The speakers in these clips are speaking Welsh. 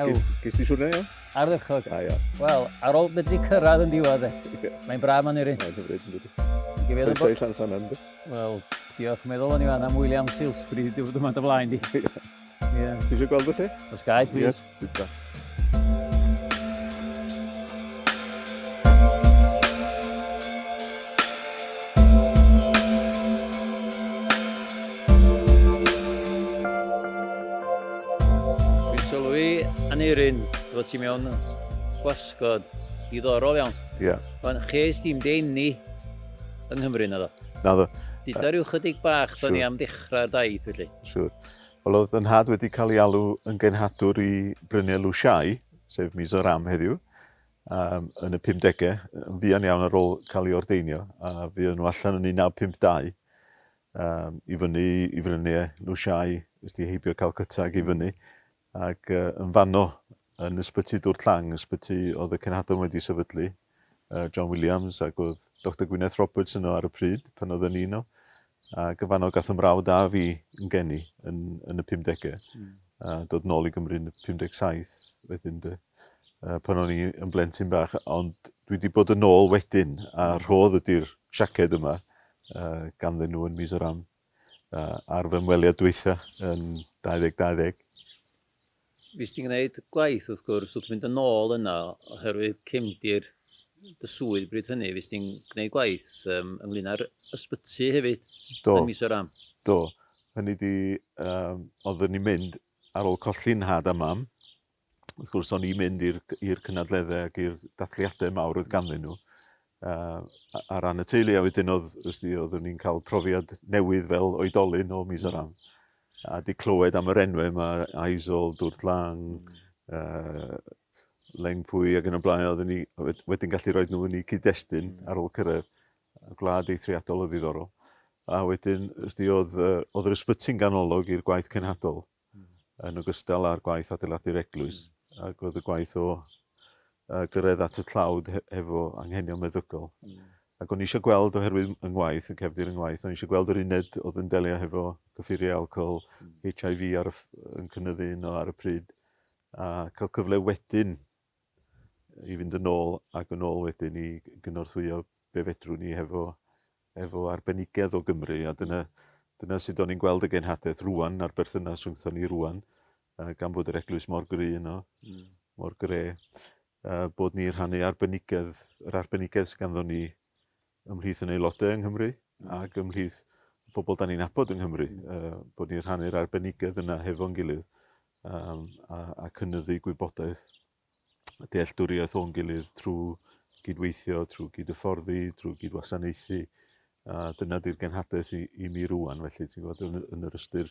Ew. Ges di siwrna iawn? Ardderchog. Da iawn. Wel, ar ôl medru cyrraedd yn diwedd e. Mae'n braf man irin. Mae'n hyfryd yn dydi. Gyfeiriad bod... Llan San Andrew. Wel, diolch. Meddwl o'n i fan am William Silsbury diwrnod yma dy flaen di. Ie. Ti eisiau gweld y lle? Os gael, please. Yes, Dwi'n sylwi, Aneurin, fod ti mewn gwasgod diddorol iawn. Ie. Ond ches di'm dy eni yng Nghymru, naddo? Naddo. Duda ryw chydig bach 'tho ni am ddechrau'r daith felly. Siŵr. Wel, oedd fy nhad wedi cael ei alw yn genhadwr i Brynne Lu Shai, sef Mizoram heddiw, um, yn y 50au, yn fuan iawn ar ôl cael ei ordeinio, a fuodd nhw allan yn 1952. Yym, i fyny i frynie Lushai, ys di heibio Calcutta ac i fyny. Ac uh, yn fanno, yn ysbyty Dwr Tlang, ysbyty oedd y cenhadon wedi sefydlu, uh, John Williams, ac oedd Dr Gwyneth Roberts yno ar y pryd, pan oedd yn un o. Ac yn fanno gath ymrawd a fi yn geni yn, yn y 50au. Mm. A dod nôl i Gymru yn y 57 wedyn dy uh, pan o'n i yn blentyn bach, ond dwi wedi bod yn ôl wedyn, a rhodd ydy'r siaced yma, ganddyn nhw yn Mizoram ar fy ymweliad dwytha yn 2020. Fues ti'n gwneud gwaith wrth gwrs wrth fynd yn ôl yna oherwydd cefndir dy swydd bryd hynny, fues ti'n gwneud gwaith ynglyn â'r ysbyty hefyd yn Mizoram? Do, do. Hynny ydi, oeddwn i'n mynd ar ôl colli nhad a mam wrth gwrs, o'n i'n mynd i'r i'r cynadleddau ac i'r dathliadau mawr oedd ganddyn nhw yy ar ran y teulu a wedyn oedd wrth gwrs oeddwn i'n cael profiad newydd fel oedolyn o mis o ran a 'di clywed am yr enwau yma, Aizol, Dwrt Lang, uh, Lengpwy ac yn y blaen, oeddwn ni wedyn gallu rhoi nhw yn eu cyd-destun hmm. ar ôl cyrraedd gwlad eithriadol o ddiddorol. A wedyn, ysdi, oedd, oedd yr ysbyty'n ganolog i'r gwaith cenhadol. yn ogystal â'r gwaith adeiladu'r eglwys, ac oedd y gwaith o uh, gyrraedd at y tlawd he hefo anghenion meddygol. Mm. Ac o'n eisiau gweld, oherwydd yng ngwaith, yn cefndir yng ngwaith, o'n eisiau gweld yr uned oedd yn delio hefo gyffuriau alcohol, mm. HIV ar y, yn cynnyddu yno ar y pryd, a cael cyfle wedyn i fynd yn ôl ac yn ôl wedyn i gynorthwyo be fedrwn ni hefo efo arbenigedd o Gymru a dyna dyna sut o'n i'n gweld y genhadaeth rŵan a'r berthynas rhwngthon ni rŵan yy gan bod yr eglwys mor gry yno hmm. mor gre yy bod ni rhannu arbenigedd yr arbenigedd sydd ganddo ni ymhlith yn aelodau yng Nghymru ac ymhlith y pobl dan ni'n nabod yng Nghymru, bod ni'n rhannu'r arbenigedd yna hefo'n gilydd a cynyddu gwybodaeth a dealltwriaeth o'n gilydd trwy gydweithio, trwy gydhyfforddi, trwy gydwasanaethu, a dyna di'r genhadaeth i mi rwan, felly ti'n gwybod, yn yr ystyr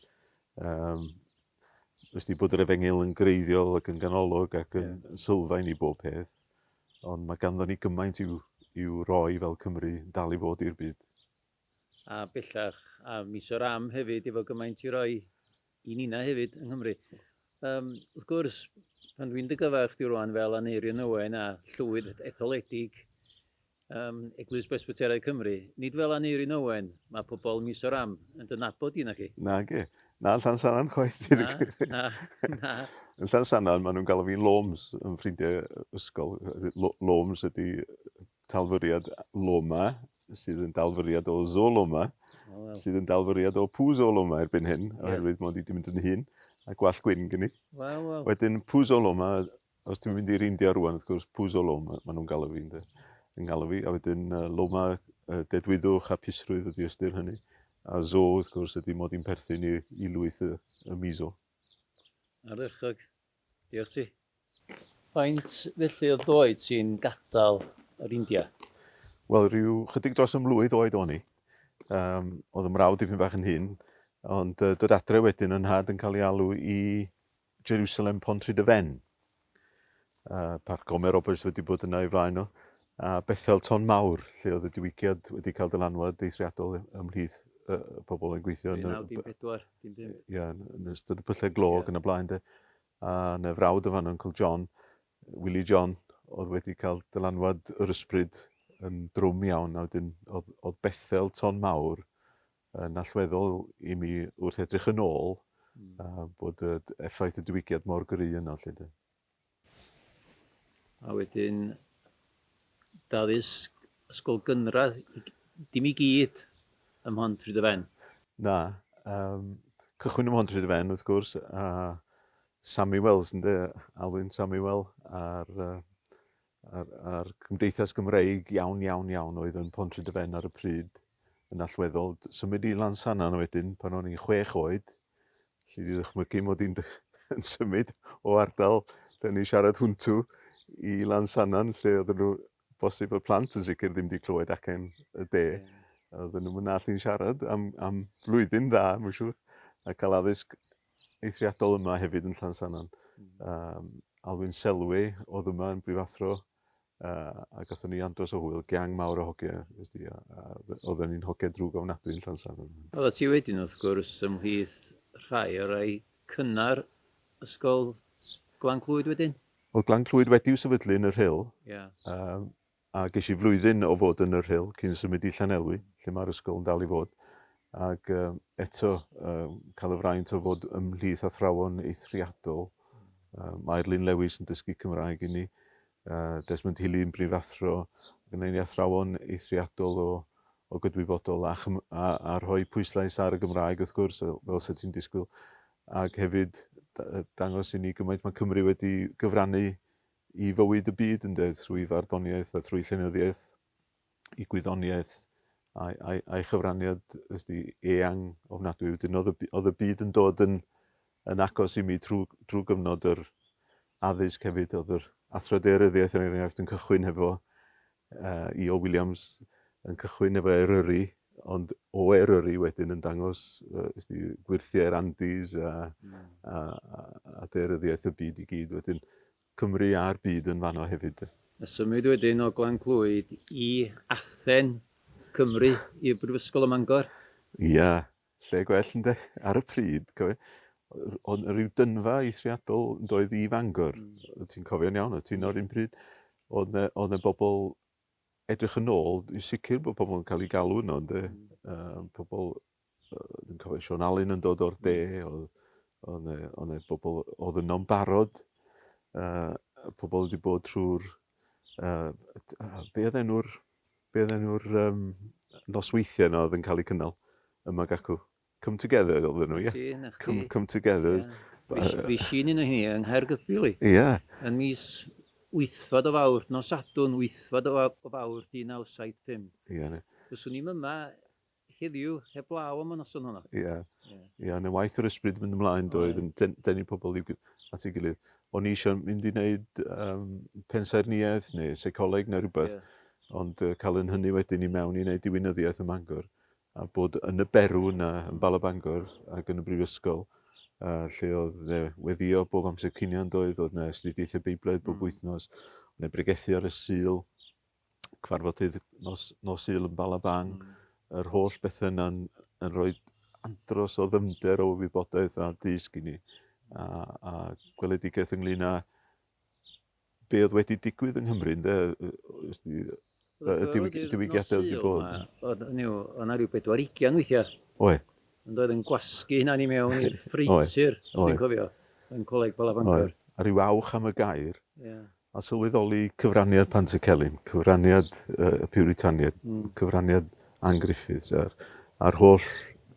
Wnes di bod yr efengyl yn greiddiol ac yn ganolog ac yn yeah. sylfaen i bob peth, ond mae ganddo ni gymaint i'w, i'w roi fel Cymru dal i fod i'r byd. A bellach, a mis o'r am hefyd, efo gymaint i roi i nina hefyd yng Nghymru. Um, wrth gwrs, pan dwi'n dy gyfer chdi rwan fel Aneirion Owen a Llwyd etholedig, Ym Eglwys Bresbyteraidd Cymru, nid fel Aneurin Owen, mae pobl Mizoram yn dy nabod di naci? Nage, na yn Llansannan chwaith deud y gwir. Na, na, na. Yn Llansannan maen nhw'n galw fi'n Loms, fy ffrindiau ysgol. Loms ydy talfyriad Loma, sydd yn dalfyriad o Zoloma, sydd yn dalfyriad o Pŵ Zoloma erbyn hyn, oherwydd mod i wedi mynd yn hŷn, a gwallt gwyn gen i. Wel, wel. Wedyn Pŵ Zoloma Os dwi'n mynd i'r India rŵan, wrth gwrs, Puzo Loma, maen nhw'n galw fi, ynde, yn ngalw fi, a wedyn uh, Loma, uh, dedwyddwch a pusrwydd ydy ystyr hynny, a Zo, wrth gwrs, ydy mod i'n perthyn i, i lwyth y, y Mizo. Ardderchog. Diolch ti. Faint felly o ddoed ti'n gadael yr India? Wel, rhyw chydig dros ymlwydd oed o'n i. Um, oedd y mrawd dipyn bach yn hyn, ond uh, dod adre wedyn yn had yn cael ei alw i Jerusalem Pontrhydyfen. Uh, Parc Gomer Roberts wedi bod yna i flaen o. A Bethel Ton Mawr, lle oedd y diwygiad wedi cael dylanwad deithriadol ymhlith uh, pobl yn gweithio yn y... 1914, dim byd. Ia, yn ystod y pyllau glog yeah. yn y blaen de. A na frawd o fan Uncle John, Willie John, oedd wedi cael dylanwad yr ysbryd yn drwm iawn, a wedyn oedd, oedd Bethel Ton Mawr yn allweddol i mi wrth edrych yn ôl a bod y effaith y diwygiad mor gry yno 'lly 'de. A wedyn daddysg ysgol gynradd i g- dim i gyd ym Mhontrhyd-y-fen. Na, yym cychwyn ym Mhontrhyd-y-fen wrth gwrs a Samuel's ynde, Alwyn Samuel ar yy a'r a'r cymdeithas Gymreig iawn iawn iawn oedd yn Pontrhydyfen ar y pryd yn allweddol. Symud i Lansannan wedyn pan o'n i'n chwech oed, lli di ddychmygu mod i'n yn symud o ardal dyn ni siarad hwntw i Lansannan lle oedden nhw bosib y plant yn sicr ddim wedi clywed acen y de. Yeah. Oedden nhw'n mynd allu'n siarad am, am flwyddyn dda, mae'n siŵr, a cael addysg eithriadol yma hefyd yn Llansannan. Um, Alwyn Selway oedd yma yn brifathro uh, a gatho ni andros o hwyl, gang mawr o hoge, ysdi, a, a oedden ni'n hoge drwg ofnadwy yn Llansan. Oedda ti wedyn wrth gwrs ymhlith rhai o rai cynnar ysgol Glan Clwyd wedyn? Oedd Glan Clwyd wedi'w sefydlu yn y Rhyl, yeah. uh, A ges i flwyddyn o fod yn Yr Rhyl cyn symud i Llanelwy, lle mae'r ysgol yn dal i fod, ac eto cael y fraint o fod ymhlith athrawon eithriadol. Mae Irlyn Lewis yn dysgu Cymraeg i ni, Desmond Healy yn brifathro, gyda ni athrawon eithriadol o, o gydwybodol a, a, a rhoi pwyslais ar y Gymraeg wrth gwrs, fel sy'n ti'n disgwyl, ac hefyd dangos i ni gymaint mae Cymru wedi gyfrannu i fywyd y byd ynde, trwy farddoniaeth a thrwy llenyddiaeth, i gwyddoniaeth, a'i, a'i, a'i chyfraniad ysdi, eang ofnadwy. Wedyn oedd y, oedd y byd yn dod yn, yn agos i mi trwy, trwy gyfnod yr addysg hefyd, oedd yr athro deiryddiaeth yn er enghraifft yn cychwyn hefo Yy Io Williams yn cychwyn efo Eryri ond o Eryri wedyn yn dangos yy ysdi gwyrthiau'r Andes a a a a daearyddiaeth y byd i gyd wedyn Cymru a'r byd yn fanno hefyd 'de. A symud wedyn o Glan Clwyd i Athen, Cymru, i'r Brifysgol ym Mangor. Ia. Lle gwell ynde? Ar y pryd, cofio, oedd rhyw dynfa eithriadol yn doedd i Fangor. Mm. Ti'n cofio'n iawn, oedd ti'n o'r un pryd. Oedd na, oedd na bobl edrych yn ôl, i sicr bod pobl yn cael ei galw yno, ynde? Mm. Uh, pobl, uh, dwi'n cofio Sean Allen yn dod o'r de, mm. oedd, oedd na bobl oedd yno'n barod, uh, pobl wedi bod trwy'r, uh, be oedd enw'r Beth oedd enw'r um, nosweithiau yna oedd yn cael eu cynnal ym Magacw? Come Together oedd nhw, ie? Come, come Together. Yeah. Fi sy'n un o hynny yng Nghaergybil i. Ie. Yeah. Yn mis wythfad o fawr, nos Sadwn, wythfad o fawr, 1975. Ie. Yeah. Fyswn i'n yma Heddiw, heblaw am y noson honno. Ia. Ia. Ia, yn y waith yr ysbryd yn mynd ymlaen doedd yn den, denu pobl i'w at ei gilydd. O'n i eisiau mynd i wneud um, pensaernïaeth neu seicoleg neu rhywbeth, yeah. ond uh, cael yn hynny wedyn i mewn i wneud diwinyddiaeth ym Mangor, a bod yn y berw yna, yn Bala Bangor ac yn y brifysgol, uh, lle oedd ne, weddio bob amser cinion doedd, oedd yna astudiaethau Beiblaidd bob mm. wythnos, oedd yna bregethu ar y sil, cyfarfodydd nos, nos Sul yn Balabang, mm. yr holl bethau yna'n yn rhoi andros o ddymder o wybodaeth a dysg i ni. A, a gweledigaeth ynglyn â be oedd wedi digwydd yng Nghymru, ynde? Y diwygiadau wedi bod. O'n yna rhyw bedwar ugian weithiau. Oe. Yn doedd yn gwasgu hynna ni mewn i'r ffreitur, dwi'n cofio, yn coleg Balabancor. A rhyw awch am y gair. Yeah. A sylweddoli cyfraniad Pantycelyn, cyfraniad y Piwritaniaid, cyfraniad Ann Griffiths a'r a'r holl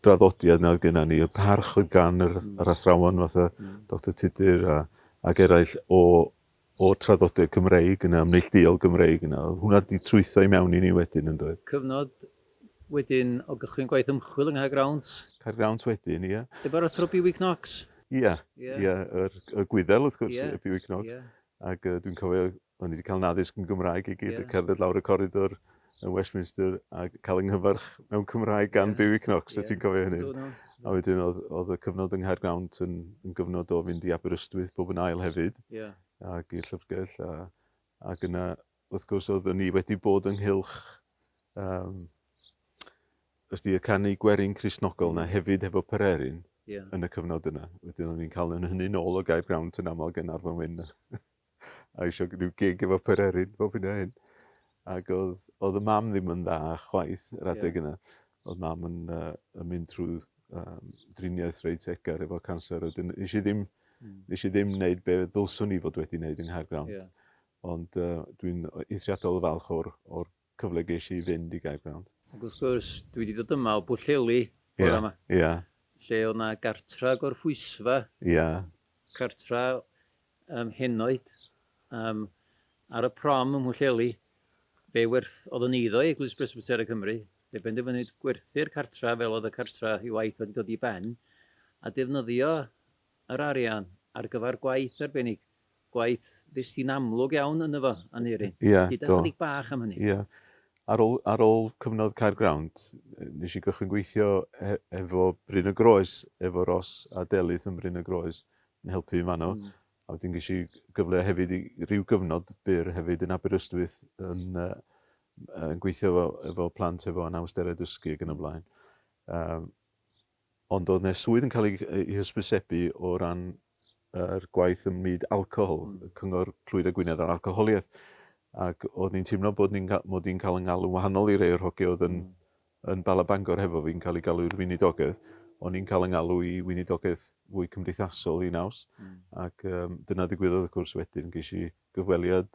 draddodiad 'na oedd genna ni, y parch oedd gan yr yr athrawon fatha Doctor Tudur a ac eraill o o'r traddodiad Cymreig yna, neillduol Gymreig yna, oedd hwnna 'di trwytho i mewn i ni wedyn yndoedd? Cyfnod wedyn o gychwyn gwaith ymchwil yng Nghaergrawnt. Caergrawnt wedyn, ie. Efo'r Athro Bewi Knox. Ie, ie, yr, y Gwyddel wrth gwrs, ie, Bewi Knox. Ac yy dwi'n cofio, o'n i wedi cael 'yn addysg yn Gymraeg i gyd, cerdded lawr y coridor yn Westminster a cael 'y nghyfarch mewn Cymraeg gan Bewi Knox, wyt ti'n cofio hynny? A wedyn oedd, oedd y cyfnod yng Nghaergrawnt yn, yn gyfnod o fynd i Aberystwyth bob yn ail hefyd, ac i'r llyfrgell, a, ac yna Wrth gwrs oeddwn ni wedi bod ynghylch um, ysdi y canu gwerin Crisnogol yna hefyd hefo Pererin yeah. yn y cyfnod yna. Wedyn o'n i'n cael yn hynny nôl o Gaib Grawnt yn aml gan Arfon Wyn a eisiau rhyw gig efo Pererin bob hyn a hyn. Ac oedd, oedd y mam ddim yn dda chwaith yr adeg yeah. yna. Oedd mam yn, uh, yn mynd trwy um, driniaeth reit egar efo cancer. Wedyn, nes i ddim, mm. nes i ddim wneud be ddylswn i fod wedi wneud yng Nghaergrawnt. Yeah. Ond dwi'n eithriadol o falch o'r o'r cyfle gesh i i fynd i Gaergrawnt. Ac wrth gwrs, dwi wedi dod yma o Bwllheli bore yma. Ia, ia. Lle o'dd 'na gartra gorphwysfa. Ia. Cartra yym henoed yym ar y prom ym Mhwllheli. Fe werth- o'dd yn eiddo i Eglwys Bresbytera Cymru. Fe benderfynwyd gwerthu'r cartra fel o'dd y cartra i waith wedi dod i ben, a defnyddio yr arian ar gyfar gwaith arbennig Gwaith ddyst ti'n amlwg iawn ynddo fo, Aneurin. Ie, do. Gyda chydig bach am hynny. Ie. Ar ôl, ar ôl cyfnod Caergrawnt, nes i gychwyn gweithio e- efo Bryn y Groes, efo Ros a Delyth yn Bryn y Groes, yn helpu fi fanno. Mm. A wedyn ges i gyfle hefyd i ryw gyfnod byr hefyd yn Aberystwyth yn uh, yn gweithio efo, efo plant efo anawsterau dysgu ac yn y blaen. Um, Ond oedd 'na swydd yn cael ei ei hysbysebu o ran yr gwaith ym myd alcohol, y cyngor Clwyd a Gwynedd ar alcoholiaeth, ac oeddwn i'n teimlo bod ni'n ga- mod i'n cael 'y ngalw'n wahanol i rei o'r hogia oedd yn yn Bala Bangor hefo fi, yn cael eu galw i'r weinidogedd. O'n i'n cael 'y ngalw i weinidogedd fwy cymdeithasol, un naws, ac yym dyna ddigwyddodd wrth gwrs wedyn, ges i gyfweliad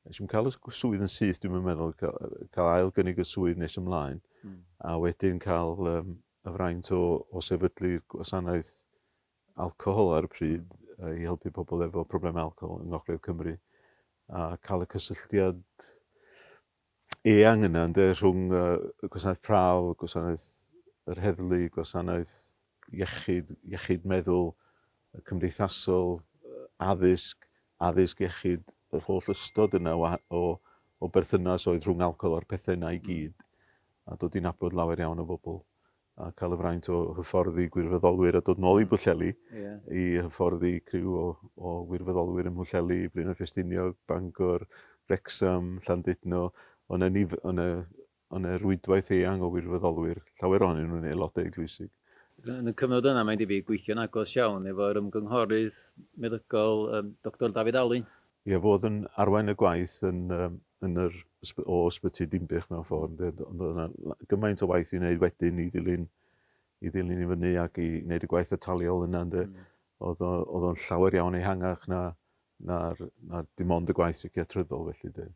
Nes i'm cael y swydd yn syth, dwi'm yn meddwl, cael ail gynnig y swydd nes ymlaen, a wedyn cael um, y fraint o, o sefydlu gwasanaeth alcohol ar y pryd i helpu pobl efo problemau alcohol yng Ngogledd Cymru, a cael y cysylltiad eang yna ynde, rhwng uh, gwasanaeth prawf, gwasanaeth yr heddlu, gwasanaeth iechyd, iechyd meddwl, cymdeithasol, addysg, addysg iechyd, yr holl ystod yna o, o, o berthynas oedd rhwng alcohol a'r pethau yna i hmm. gyd, a dod i'n abod lawer iawn o bobl a cael y fraint o hyfforddi gwirfoddolwyr a dod nôl i hmm. Bwlleli yeah. i hyfforddi criw o, o wirfoddolwyr ym Mhwlleli, Blaenau Ffestiniog, Bangor, Wrexham, Llandudno, ond yna, Yn y rwydwaith eang o wirfoddolwyr, llawer ohonyn nhw'n aelodau eglwysig. Yn y cyfnod yna, mae'n debyg, gweithio'n agos iawn efo'r ymgynghorydd meddygol, Doctor David Alun. Ie, fo oedd yn arwain y gwaith yn yn yr ysby- o Ysbyty Dinbych mewn ffordd, ynde? Ond ond oedd yna la- gymaint o waith i wneud wedyn i ddilyn i ddilyn i fyny ac i wneud y gwaith ataliol yna, ynde? Oedd o oedd o'n llawer iawn ehangach na Na, na, dim ond y gwaith seiciatryddol felly de.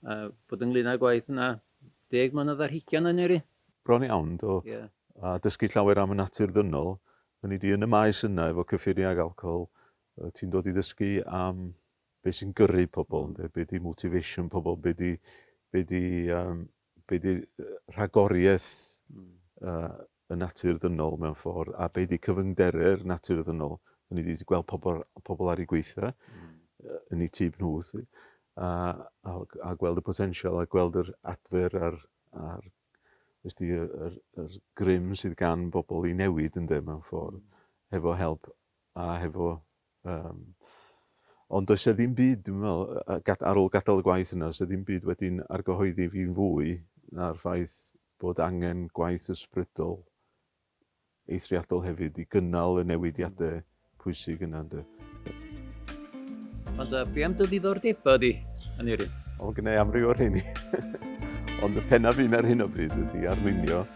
A bod ynglyn â'r gwaith yna, deg mlynedd ar hugain o'n i eri. Bron iawn, do. Ie. A dysgu llawer am y natur ddynol. O'n i di yn y maes yna efo cyffuriau ac alcohol, yy ti'n dod i ddysgu am be sy'n gyrru pobl ynde, be di motivation pobl, be di, be di yym be 'di rhagoriaeth y natur ddynol mewn ffordd, a be 'di cyfyngderu'r natur ddynol. O'n i 'di gweld pobl, pobl ar ei gweitha, yn ei tîb nhw, a, a, a gweld y potensial, a gweld yr adfer a'r, a'r ysdi, y, yr, yr grym sydd gan bobl i newid yn dim mewn ffordd, hefo help a hefo Yym, ond does 'e ddim byd, dwi'n meddwl, yy yy gad- ar ôl gadael y gwaith yna, does 'e ddim byd wedi'n argyhoeddi fi'n fwy na'r ffaith bod angen gwaith ysbrydol eithriadol hefyd i gynnal y newidiade pwysig yna, ynde. Ond yy, be am dy ddiddordeba di, Aneurin? O, gynna' i amryw o rheini. Ond y penna fin ar hyn o bryd ydi arlunio.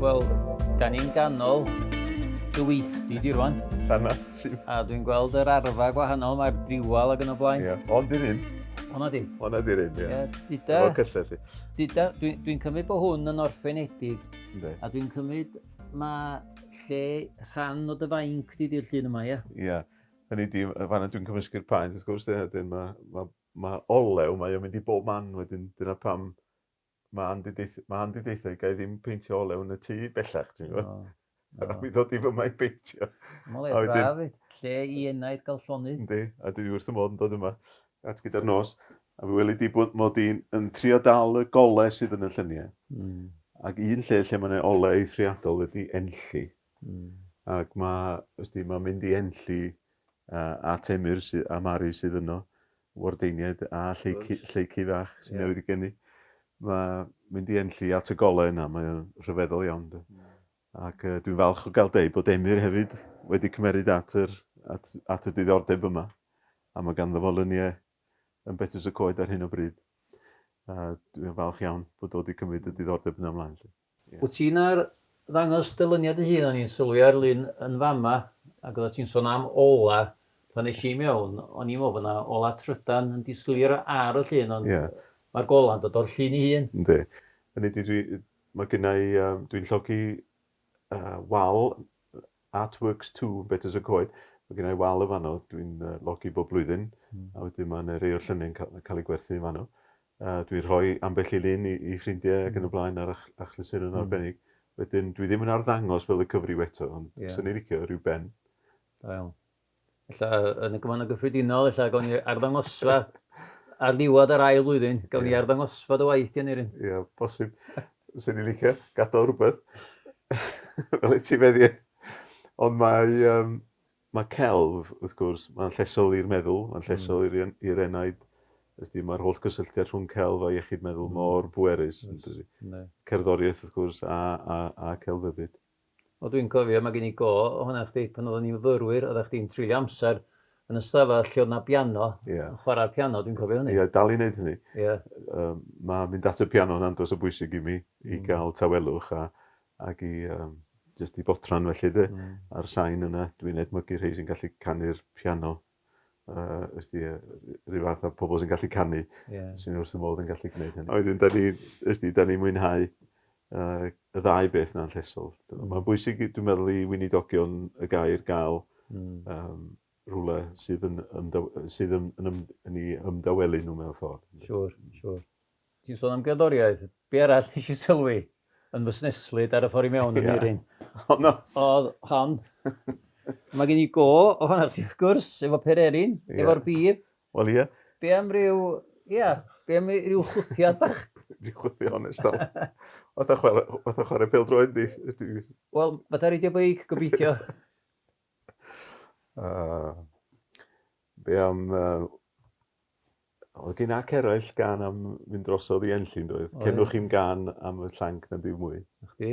Wel, da ni'n ganol dy weithdy di rwan. Rhan ar ti. A dwi'n gweld yr arfa gwahanol, mae'r diwal ac yn y blaen. Ie, ond i'r un. Hwna di. Hwna di'r un, ie. Yeah. Dida, Efo cyllell i. Dida, dwi'n dwi cymryd bod hwn yn orffenedig. Ynddi. A dwi'n cymryd Mae lle rhan o dy fainc di di'r llun yma, ia? Ia. Hynny di, fanna dwi'n cymysgu'r paent, wrth gwrs, wedyn mae ma, ma olew, mae o'n mynd i bob man wedyn, dyna pam mae Andy, deith, mae Andy deithio i gael ddim peintio olew yn y tŷ bellach, ti'n gwybod? No. No. A mi ddod i fy mae'n peintio. Mae'n le braf, lle i enaid gael llonydd. Yndi, a dwi wrth y modd yn dod yma. at gyda'r nos, a mi weli di bod mod i'n yn trio dal y gole sydd yn y lluniau. Mm. Ac un lle lle mae'n ole eithriadol ydy enlli. Mm. Ac mae, ysti, mae'n mynd i enlli uh, at Emyr sydd, a Mari sydd yno, wardeiniaid a lleici, lleici fach sy'n yeah. newydd i geni. Mae mynd i enlli at y gole yna, mae'n rhyfeddol iawn. Mm. Ac dwi'n falch o gael deud bod Emyr hefyd wedi cymeryd at yr at at y diddordeb yma, a mae ganddo fo lyniau yn Betws y Coed ar hyn o bryd. A dwi'n falch iawn bod o wedi cymryd y diddordeb yna ymlaen 'lly. Ie. Wyt ti'n ar ddangos dy lyniau dy hun, o'n i'n sylwi ar lun yn fama, ac oeddet ti'n sôn am ola, pan es i mewn, o'n i'n meddwl bod yna ola trydan yn disgleirio ar y llun, ond... Ie. ...mae'r gola'n dod o'r llun ei hun. Yndi. Hynny ydi dwi Mae gynna i, dwi'n llogi wal Art Works Two yn Betws y Coed. Mae gynna i wal yn fanno, dwi'n llogi bob blwyddyn, mm. a wedyn mae yna rei o'r lluniau'n cael, cael ei gwerthu yn fanno. Uh, dwi'n rhoi ambell i lun i, i ffrindiau ac yn y hmm. blaen ar achlysur yn hmm. arbennig. Mm. Wedyn, dwi ddim yn arddangos fel y cyfryw eto, ond yeah. sy'n ei licio rhyw ben. Da iawn. Ella yn y gyfannau gyffredinol, ella gawn ni arddangosfa ar ddiwedd yr ail flwyddyn, gawn ni yeah. arddangosfa dy waith gen i ryn. Ie, yeah, bosib. Swn i'n licio gadael rhywbeth. Fel ti feddi. Ond mae, um, mae celf, wrth gwrs, mae'n llesol i'r meddwl, mae'n llesol mm. i'r enaid. Ysdi, mae'r holl gysylltiad rhwng celf a iechyd meddwl mm. mor bwerus. Yes. Cerddoriaeth, wrth gwrs, a, a, a celfyddyd. O dwi'n cofio, mae gen i go ohona chdi, pan oeddan ni'n fyfyrwyr, oeddach chdi'n treulio amser yn y stafell lle oedd 'na biano, yn chwarae'r piano, dwi'n cofio hynny. Ie, dal i wneud hynny. Mae mynd at y piano yn andros o bwysig i mi, i gael tawelwch ac i jyst i fodran felly 'de, a'r sain yna, dwi'n edmygu rhei sy'n gallu canu'r piano uh, ysdi, rhyw fath o pobl sy'n gallu canu, yeah. sy'n wrth y modd yn gallu gwneud hynny. Oedden, da ni, ysdi, da ni mwynhau uh, y ddau beth na'n llesol. Mm. Mae'n bwysig, dwi'n meddwl, i wynidogion y gair gael mm. um, rhywle sydd yn, ymdaw, sydd yn, yn, yn, yn ei ymdawelu nhw mewn ffordd. Siwr, siwr. Ti'n sôn am gerddoriaeth. Be arall nes i sylwi yn fy sneslyd ar y ffordd i mewn yn yeah. Eirin? Oh, no. Oedd hon. Mae gen i go o hwnna chdi, wrth gwrs, efo pererin, yeah. efo'r bib. Wel, ie. Yeah. Be am ryw... Ie, yeah, be am ryw chwthiad bach? Di chwthiad honest dal. Oedd a chwarae, oedd a chwarae pel droed di. Wel, fath ar reidio beic, gobeithio. uh, be am uh, Oedd gen ac eraill gan am fynd drosodd i Enlli, yn doedd? Cenwch chi'n gan am y llanc na dim mwy. Na chdi?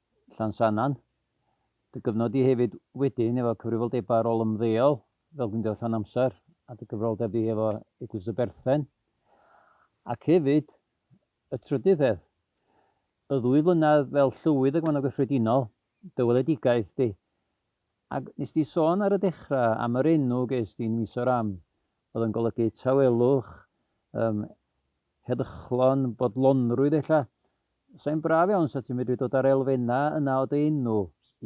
Llansannan. Dy gyfnod di hefyd wedyn efo cyfrifoldebau ar ôl ymddeol fel Gwyndewr Llawn Amser a dy gyfrifoldeb di hefo Eglwys y Berthen. Ac hefyd, y trydydd peth, y ddwy flynedd fel Llywydd y Gwanwyn Gyffredinol, dy weledigaeth di. Ac nes di sôn ar y dechrau am yr enw ges di yn Misoram, oedd yn golygu tawelwch, yym, Heddychlon, bodlonrwydd ella? Sai'n braf iawn 'sa ti'n medru dod â'r elfennau yna o dy enw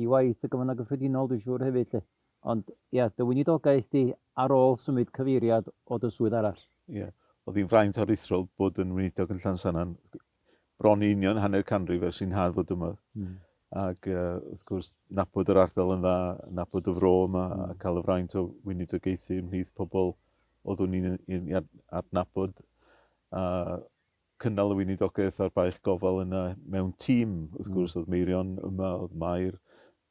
i waith y Gofynnau Cyffredinol dwi'n siŵr hefyd 'lly. Ond ia, dy weinidogaeth di ar ôl symud cyfeiriad o dy swydd arall. Ie, o'dd hi'n fraint aruthrol bod yn weinidog yn Llansannan, bron i union hanner canrif ers i'n nhad fod yma. Ag wrth gwrs, nabod yr ardal yn dda, nabod y fro yma a cael y fraint o weinidogaethu ymhlith pobl Oeddwn i'n i'n i'n adnabod a cynnal y weinidogaeth a'r baich gofal yna mewn tîm. Wrth gwrs, mm. oedd Meirion yma, oedd Mair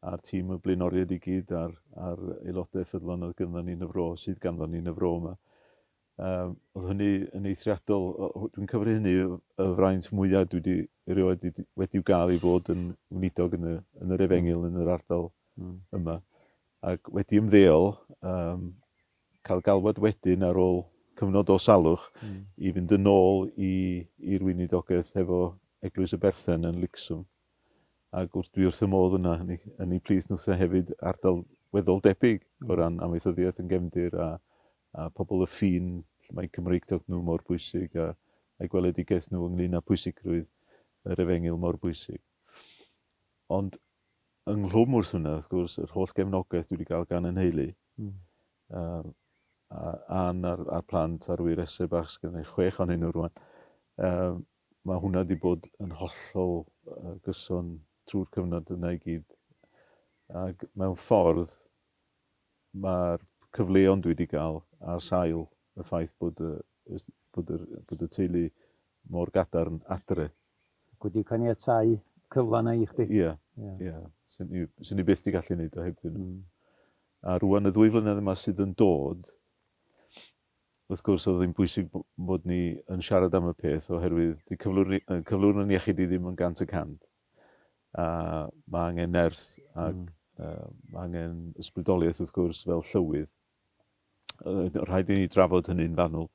a'r tîm y blaenoriaid i gyd a'r, ar aelodau ffyddlon oedd ganddo ni'n y fro, sydd ganddo ni'n y fro yma. Um, oedd hynny yn eithriadol, dwi'n cyfri hynny y fraint mwyaf dwi wedi erioed wedi, wedi gael ei fod yn wnidog yn, y, yn yr efengil, yn yr ardal mm. yma. Ac wedi ymddeol, um, cael galwad wedyn ar ôl cyfnod o salwch i fynd yn ôl i i'r weinidogaeth efo Eglwys y Berthen yn Licswm ac wrth dwi wrth fy modd yna yn ei yn ei plith nhw wrth hefyd ardal weddol debyg o ran amaethyddiaeth yn gefndir a a pobl y ffin lle mae Cymreictod nhw mor bwysig a a'i gweledigaeth nhw ynglŷn â pwysigrwydd yr efengyl mor bwysig. Ond ynghlwm wrth hwnna, wrth gwrs, yr holl gefnogaeth dwi wedi cael gan 'y nheulu, yym, a Ann a'r a'r plant a'r ŵyr Ese bach, sy gynna i chwech ohonyn nhw rŵan, yym, ma' hwnna wedi bod yn hollol yy gyson trwy'r cyfnod yna i gyd. Ac mewn ffordd, mae'r cyfleon dwi wedi cael, ar sail y ffaith bod y bod yr bod y teulu mor gadarn adre, wedi caniatáu cyfle yna i chdi. Ie, ie. Swn i, swn i byth di gallu neud o heb dyn nhw. A rwan y ddwy flynedd yma sydd yn dod, wrth gwrs oedd hi'n bwysig bod ni yn siarad am y peth oherwydd di cyflwr, cyflwr yn iechyd i ddim yn gant y cant. A mae angen nerth ac mm. uh, mae angen ysbrydoliaeth wrth gwrs fel llywydd rhaid i ni drafod hynny'n fanwl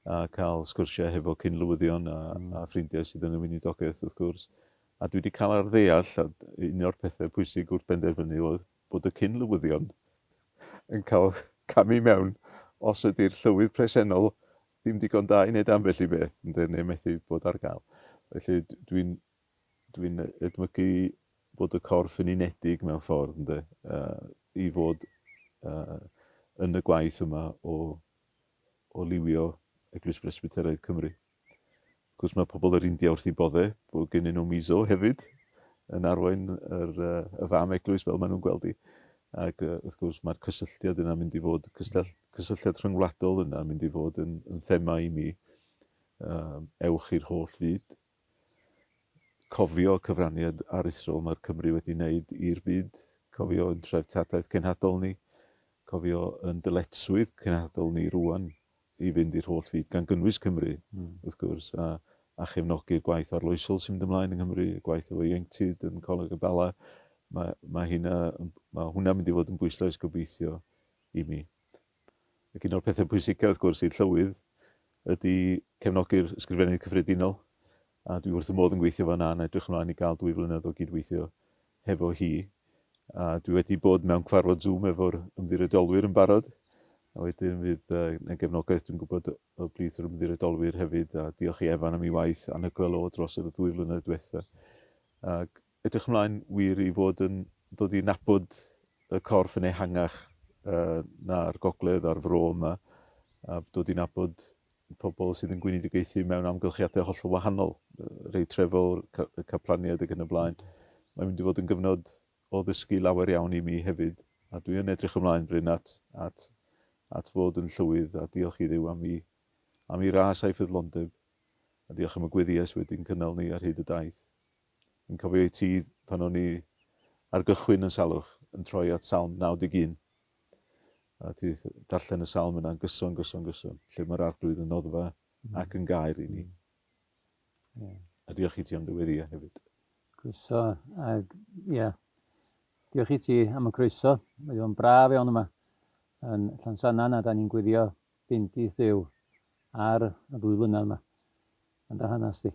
a cael sgwrsiau hefo cyn-lywyddion a, mm. a ffrindiau sydd yn y weinidogaeth, wrth gwrs. A dwi wedi cael ar ddeall, a un o'r pethau pwysig wrth benderfynu oedd bod y cyn-lywyddion yn cael camu mewn os ydy'r llywydd presennol ddim digon da i wneud ambell i beth, neu methu bod ar gael. Felly dwi'n Dwi'n edmygu bod y corff yn unedig mewn ffordd, ynde, i fod yn y gwaith yma o o liwio Eglwys Bresbyteraidd Cymru. Wrth gwrs mae pobl yr India wrth i bodde bod gennyn nhw miso hefyd yn arwain yr, y fam eglwys fel maen nhw'n gweld i. Ac wrth gwrs mae'r cysylltiad yna mynd i fod, cysylltiad rhyngwladol yna mynd i fod yn, yn thema i mi. Um, ewch i'r holl fyd, cofio cyfraniad aruthrol mae'r Cymry wedi wneud i'r byd, cofio yn treftadaeth cenhadol ni, cofio yn dyletswydd cenhadol ni rwan i fynd i'r holl fyd, gan gynnwys Cymru, mm. wrth gwrs, a, a chefnogi'r gwaith arloesol sy'n mynd ymlaen yng Nghymru, y gwaith efo ieuenctid yn Coleg y Bala, mae, mae, hynna, mae hwnna mynd i fod yn bwyslais gobeithio i mi. Ac un o'r pethau pwysicaf wrth gwrs i'r Llywydd ydy cefnogi'r Ysgrifennydd Cyffredinol a dwi wrth fy modd yn gweithio efo yna yn edrych ymlaen i gael dwy flynedd o gydweithio hefo hi. A dwi wedi bod mewn cyfarfod Zoom efo'r ymddiriedolwyr yn barod a wedyn fydd na gefnogaeth dwi'n gwybod o blith yr ymddiriedolwyr hefyd a diolch i Evan am ei waith anhygoel o dros y ddwy flynedd diwetha. Ac Edrych ymlaen wir i fod yn dod i nabod y corff yn ehangach na'r gogledd a'r fro yma, a dod i nabod pobl sydd yn gweinidiogaethu mewn amgylchiadau hollol wahanol, rhei trefol, caplaniaid ac yn y blaen. Mae'n mynd i fod yn gyfnod o ddysgu lawer iawn i mi hefyd, a dwi yn edrych ymlaen, Bryn, at, at, at fod yn llywydd, a diolch i Dduw am i, am i ras a'i ffyddlondeb, a diolch am y gweddies wedi'n cynnal ni ar hyd y daith. Yn cofio i ti pan o'n i ar gychwyn yn salwch yn troi at Salm 91 a ti darllen y salm yna'n gyson, gyson, gyson, lle mae'r arglwydd yn noddfa mm. ac yn gair i ni. Yeah. A diolch i ti am dy weddiau hefyd. Croeso, ag, ie, yeah. diolch i ti am y croeso. Mae o'n braf iawn yma yn Llansannan a da ni'n gweddio bendith Dduw ar y ddwy flynadd yma. Yn dy hanes di.